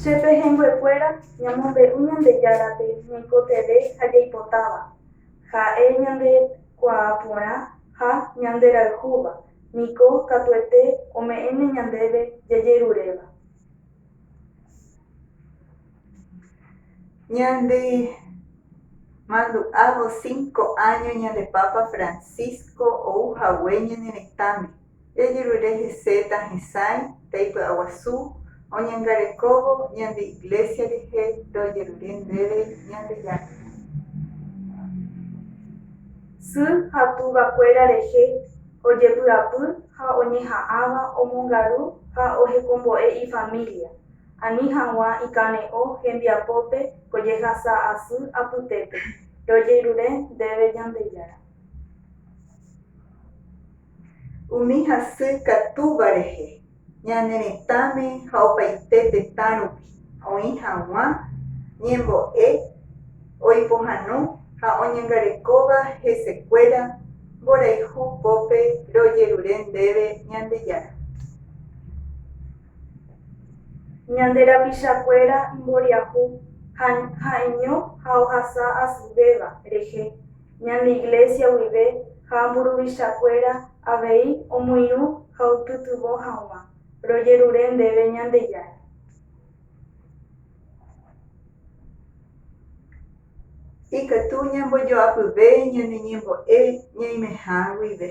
Che pehẽnguekuéra ñamombe'u Ñandejárape ñaikotevẽ ha jaipotáva, ha'e ñande kuaa porã ha ñanderayhúva, niko katuete ome'ẽne ñandéve jajeruréva. Ñande mandu'ávo cinco áño ñande Papa Francisco ou hague ñane retãme. Jajerure hese tahesãi taipy'aguasu oñangarekóvo ñande Iglésia rehe rojerure ndéve Ñandejára. Sy ha tuvakuéra rehe ojepy'apy ha oñeha'ãva omongaru ha ohekombo'e ifamília, ani hag̃ua ikane'õ hembiapópe ko jehasa asy apytépe, rojerure ndéve Ñandejára. umi hasy katúva rehe, ñane retãme ha opaite tetã rupi oĩ haguã ñembo'e oipohãno ha oñangarekóva hesekuéra mborayhu pópe rojerure ndéve Ñandejára. Ñande rapichakuéra imboriahu ha ha'eño ha ohasa asyvéva rehe. ñane iglésia guive ha mburuvichakuéra avei omoirũ ha opytyvõ hag̃ua, rojerure ndéve Ñandejára. Ikatu ñambojoapyve ñane ñembo'e ñaimeha guive.